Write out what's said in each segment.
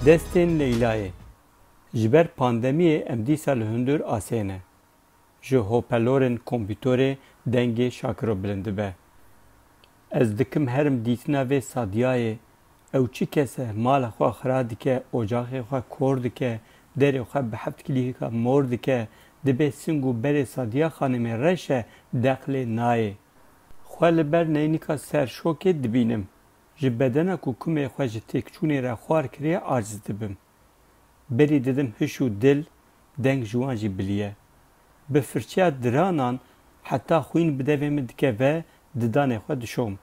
Destên Leylayê, Ji ber pandemiyê em dîsa li hundir asê ne. Ji hopelorên kompîtorê dengê Şakiro bilind dibe. Ez dikim herim dîtina vê Sadiyayê. Ew çi kes e, mala xwe xira dike, ocaxê xwe kor dike, derê xwe bi heft kilîhika mor dike, dibê sing û berê Sadiya xanimê reş e, deq lê nayê. Xwe li ber neynika serşokê dibînim. Ji bedena ku kumê xwe ji têkçûnê re xwar kiriye aciz dibim. Berî didim hiş û dil, deng ji wan jî biliye. Bi firçeya diranan heta xwîn bi devê min dikeve di danê xwe dişom.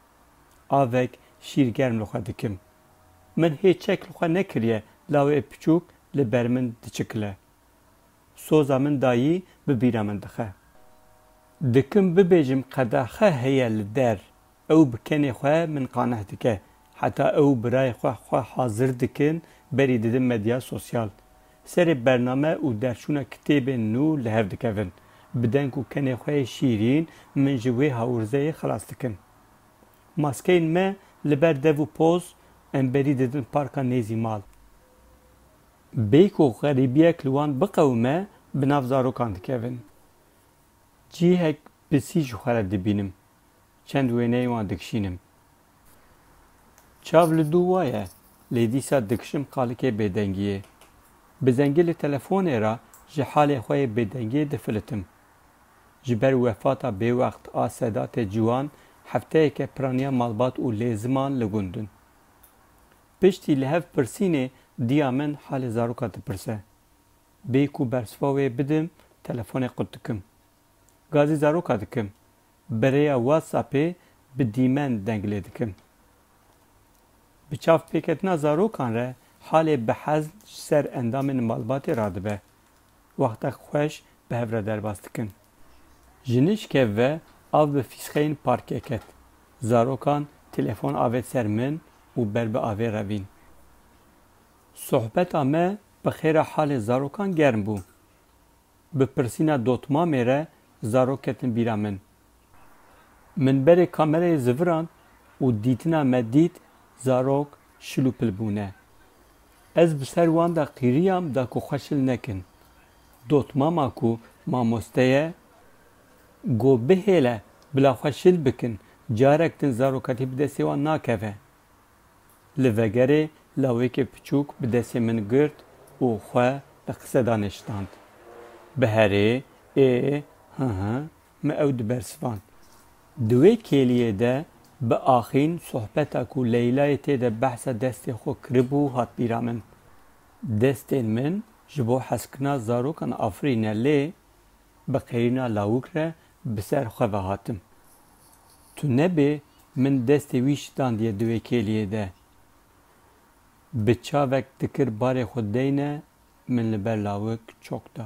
Avek şîr germ li xwe dikim. Min hê çek li xwe nekiriye lawê piçûk li ber min diçikile. Soza min dayî bi bîra min dixe. Dikim bibêjim qedaxe heye li der. Ew bi kenê xwe min qaneh dike. Heta ew birayê xwe xwe hazir dikin berî didin medya sosyal. Serê bername û derçûna kitêbên nû li hev dikevin. Bi deng û kenê xwe yê şîrîn min ji wê hawirzeyê xilas dikin. Maskeyên me li ber dev û poz em berî didin parka nêzî mal. Bê ku xerîbiyek li wan biqewime bi nav zarokan dikevin. Cihek pisî ji xwe re dibînim. çend wêneyên wan dikişînim. Çav li dû waye, lê dîsa dikişim qalikê bêdengiyê. Bi zengî li telefonê re ji halê xwe yê bêdengiyê difilitim. Ji ber wefata bêwext a Sedatê Ciwan hefteyeke piraniya malbat û lêziman li gundin. Piştî li hev pirsînê diya min halê zaroka dipirse. Bêyî ku bersiva wê bidim telefonê qut dikim. Gazî zaroka dikim. Bi rêya WhatsAppê bi dîmen deng lê dikim. Bi çavpêketina zarokan re halê bi hezm ji ser endamên malbatê radibe. Wextek xweş bi hev re derbas dikin. Ji nişkev ve av bi fîsxeyên parkê ket. Zarokan telefon avêt ser min û ber bi avê revîn. Sohbeta me bi xêra halê zarokan germ bû. bi pirsîna dotmamê re zarok ketin bîra min. Min berê kamerayê zivirand û dîtina me dît zarok şil û pil bûne. Ez bi ser wan de qîriyam da ku xwe şil nekin. Dotmama ku mamoste ye got bihêle bila xwe şil bikin, carek din zarokatî bi destê wan nakeve. Li vegerê lawêkê piçûk bi destê min girt û xwe li qisedan neşitand. Bi herê ê hı hı me ew dibersivand. Di wê kêliyê de bi axîn sohbeta ku Leylayê tê de behsa destê xwe kiribû hat bîra min. Destên min ji bo hezkirina zarokan afirîne lê bi qeyîrina lawik re bi ser xwe ve hatim. Tu nebê min destê wî şitandiye di wê kêliyê de. Bi çavek dikir barê xwe deyne min li ber lawik çok da.